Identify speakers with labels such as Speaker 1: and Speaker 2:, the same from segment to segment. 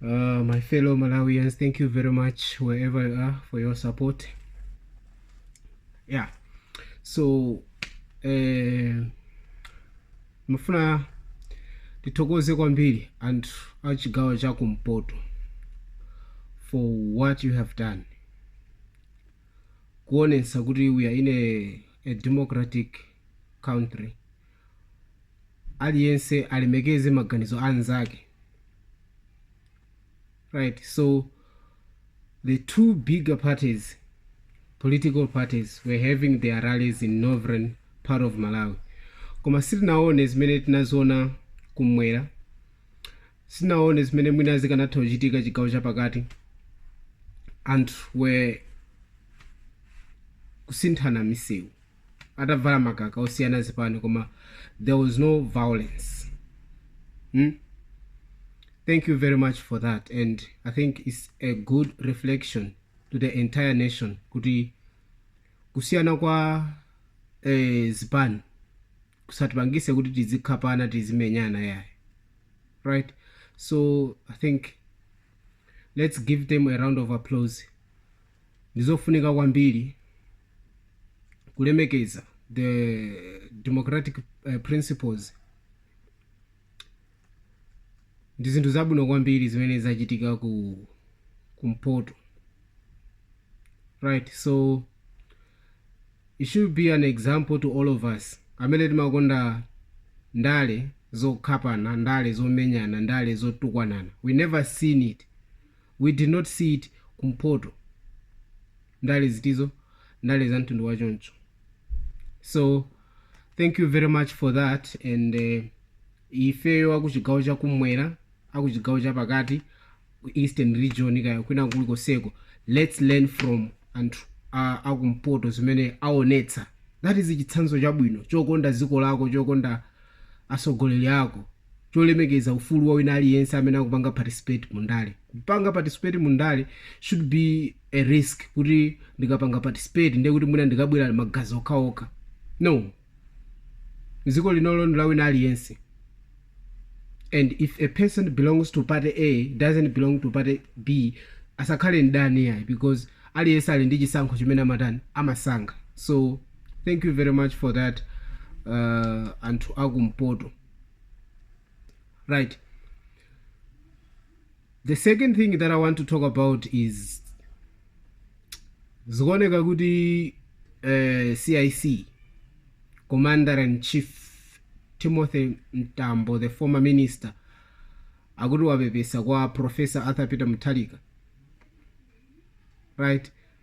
Speaker 1: Uh, my fellow Malawians, thank you very much wherever you are for your support. Yeah, so eh, timafuna tithokoze kwambiri anthu a chigawo cha kumpoto for what you have done kuonetsa kuti we are in a, a democratic country aliyense alemekeze maganizo a nzake right so the two bigger parties political parties were having their rallies in northern part of malawi koma sitinaone zimene tinaziona kumwera sitinaone zimene mwina zikanatha kuchitika chigawo chapakati anthu were kusinthana misewu atavala makaka osiyana zipani koma there was no violence hmm? thank you very much for that and i think it's a good reflection to the entire nation kuti kusiyana kwa eh, zipani kusatipangise kuti tizikhapana tizimenyana yayi right so i think let's give them a round of applause Ndi zofunika kwambiri kulemekeza the democratic eh, principles ndi zinthu zabwino kwambiri zimene zachitika kumpoto right so it should be an example to all of us amene timakonda ndale zokhapana ndale zomenyana ndale zotukwanana we never seen it We did not see it kumpoto ndale zitizo ndale za mtundu wa choncho so thank you very much for that and uh, ifeyo akuchigawo chakumwera akuchigawo chapakati ku eastern region kaya kwina kulikoseko let's learn from anthu uh, akumpoto zimene aonetsa that is chitsanzo chabwino chokonda dziko lako chokonda atsogoleri ako cholemekeza ufulu wa wina aliyense amene akupanga participate mu ndale. Kupanga participate mu ndale shouldn't be a risk kuti ndikapanga participate ndiye kuti mwina ndikabwera magazi okhaokha. No. Dziko linolo ndi la wina aliyense and if a person belongs to party A doesn't belong to party B asakhale mdani yayi because aliyense ali ndi chisankho chimene amatani amasankha. So thank you very much for that uh, anthu akumpoto. right the second thing that i want to talk about is zikuoneka kuti uh, cic commander and chief timothy mtambo the former minister akuti wapepesa kwa professor arthur peter mutharika right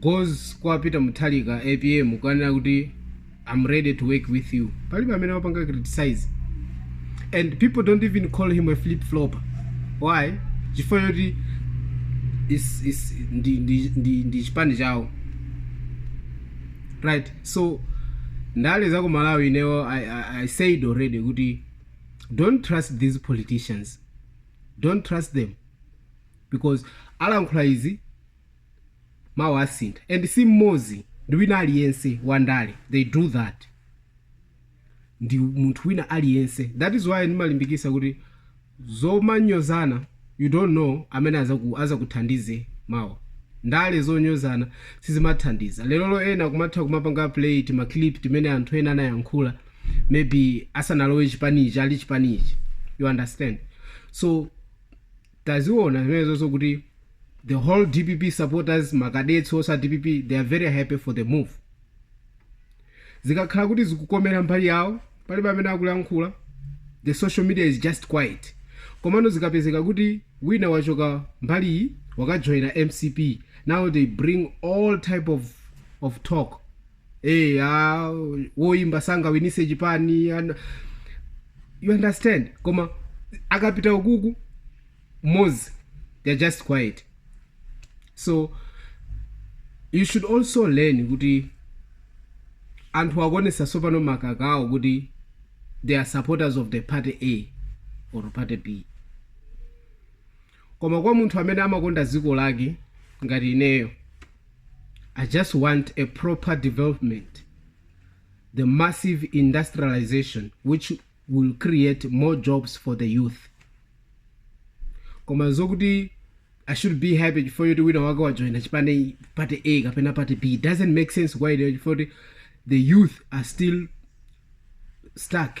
Speaker 1: Goes kwa Peter Mutharika APM kukanena kuti I'm ready to work with you. Palibe amene wapanga criticize. And people don't even call him a flip flopper. Why? Chifukwa choti is is ndi ndi ndi, ndi chipani chawo. Right. So ndale za ku Malawi inewo I, I, I said already kuti don't trust these politicians. Don't trust them because alankhula izi mawa asintha and si mmodzi ndi wina aliyense wa ndale they do that ndi munthu wina aliyense that is why ndimalimbikisa kuti zomanyozanazi you don't know amene azaku- azakuthandize mawa ndale zonyozana sizimathandiza lerolo ena kumatha kumapanga play timaclip timene anthu ena anayankhula maybe asanalowe chipanichi ali chipanichi you understand so taziona zimenezo kuti the whole dpp supporters makadetsi onse a dpp they are very happy for the move zikakhala kuti zikukomera mbali yawo palibe amene akulankhula the social media is just quiet komano zikapezeka kuti wina wachoka mbali iyi wakajoyina mcp now they bring all type of, of talk hey, ah, woimba sangawinise chipani ana- you understand koma akapita ukuku m'mudzi they're just quiet so you should also learn kuti anthu akuonesa tsopano makaka awo kuti they are supporters of the party a or party b Koma kwa munthu amene amakonda dziko lake ngati ineyo I just want a proper development, the massive industrialisation which will create more jobs for the youth. Koma zokuti I should be happy chifukwa choti wina wake wajoina chipani party A kapena party B it doesn't make sense kwa ineyo chifukwa choti the youth are still stuck.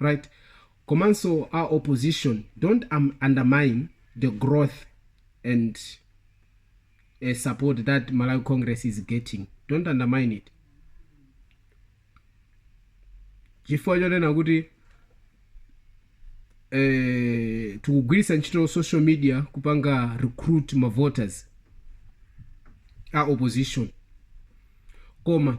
Speaker 1: right komanso a opposition don't undermine the growth and support that malawi congress is getting don't undermine it chifukwa chonena kuti eh, tikugwiritsa ntchito social media kupanga recruit ma voters a opposition koma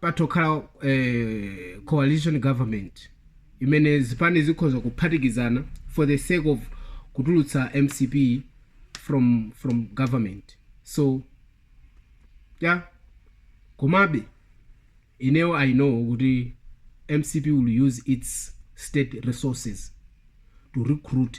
Speaker 1: patha kukhala eh, coalition government imene zipani zikhoza kuphatikizana for the sake of kutulutsa mcp from from government so yeah komabe ineyo i know kuti mcp will use its state resources to recruit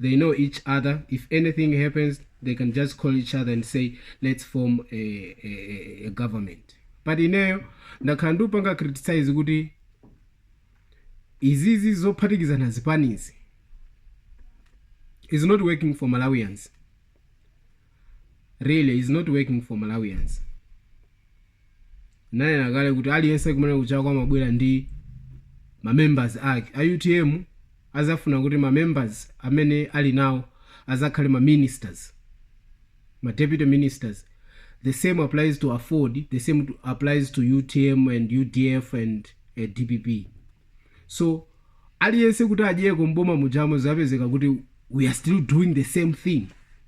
Speaker 1: they know each other if anything happens they can just call each other and say let's form a, a, a, a government but ineyo ndakhala ndikupanga criticize kuti izizi zophatikizana zipanizi is not working for malawians really is not working for malawians nanena kale kuti aliyense kumene kuchokera amabwera ndi mamembers ake a utm azafuna kuti mamembers amene ali nawo azakhale ma ministers ma deputy ministers the same applies to afford the same to, applies to utm and udf and uh, dpp so aliyense kuti adyeko mboma mujamo zapezeka kuti we are still doing the same thing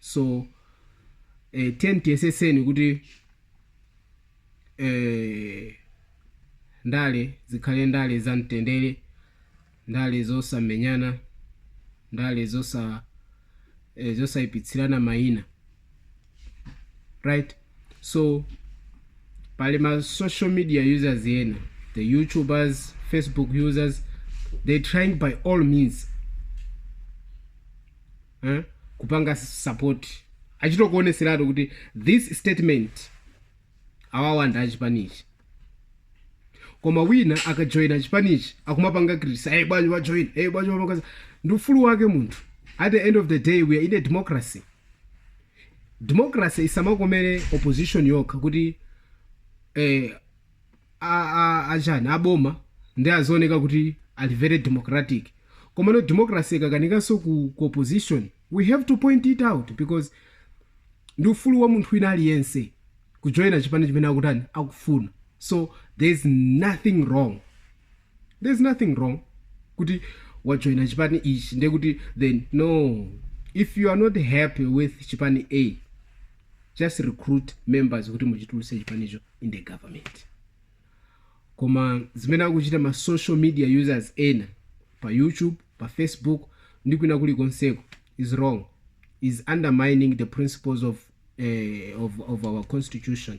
Speaker 1: so eh, tiyeni tiyeseseni kuti eh, ndale zikhale ndale za mtendere ndale zosamenyana ndale zosa eh, zosayipitsirana mayina right so pali ma social media users yena the youtubers facebook users they trying by all means eh, kupanga support achita kuoneseratu kuti this statement awawa ndi achipanichi koma wina akajoyina chipanichi akumapanga criticize hey, bwanji wajoyina hey, bwanji wapanga ndi ufulu wake munthu at the end of the day we are in a democracy democracy isamakomere opposition yokha kuti eh, a, a, a chani aboma nde azioneka kuti ali very democratic komano democracy ikakanikanso ku, ku opposition we have to point it out because ndi ufulu wa munthu wina aliyense kujoyina chipani chimene akutani akufuna so there is nothing wrong there's nothing wrong kuti wajoyina chipani ichi ndiye kuti then no if you are not happy with chipani a just recruit members kuti muchituluse chipanicho in the government koma zimene akuchita ma social media users ena pa youtube pa facebook ndi kwina kulikonseko is wrong is undermining the principles of, eh, of, of our constitution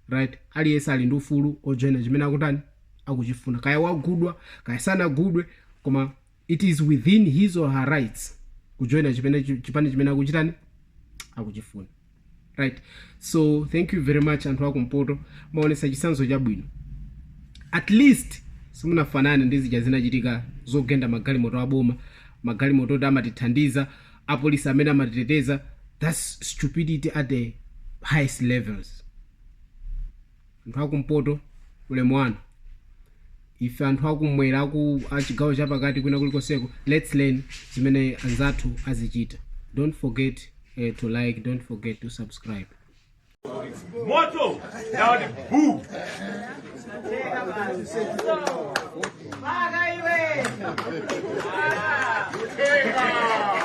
Speaker 1: right aliyense ali ndi ufulu ojoyina chimene akutani akuchifuna kaya wagudwa kaya sanagudwe koma It is within his or her rights kujoina chipene, chipani chimene akuchitani akuchifuna right so thank you very much anthu akumpoto maonesa chisanzo chabwino at least simunafanane ndi zija zinachitika zogenda magalimoto aboma magalimoto oti amatithandiza apolisi amene amatiteteza thats stupidity at the highest levels Anthu a kumpoto, ulemu wanu. Ife anthu a kumwera a chigawo chapakati kwina kulikonseko let's learn zimene anzathu azichita. Don't forget eh, to like, don't forget to subscribe.
Speaker 2: moto ndawati buu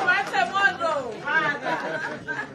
Speaker 2: Pata moto. Pata.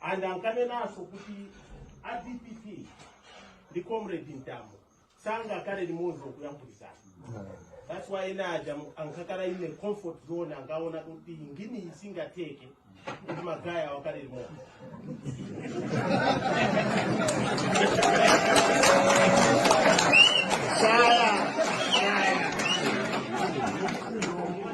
Speaker 2: and ankanenanso kuti a dpp ndi comrade mtambo sangakhale limodzi kuyankhulizana that's why ena aja ankakhala in a comfort zone ankaona kuti ngini isingateke kuti ma guy awa akhale limodzi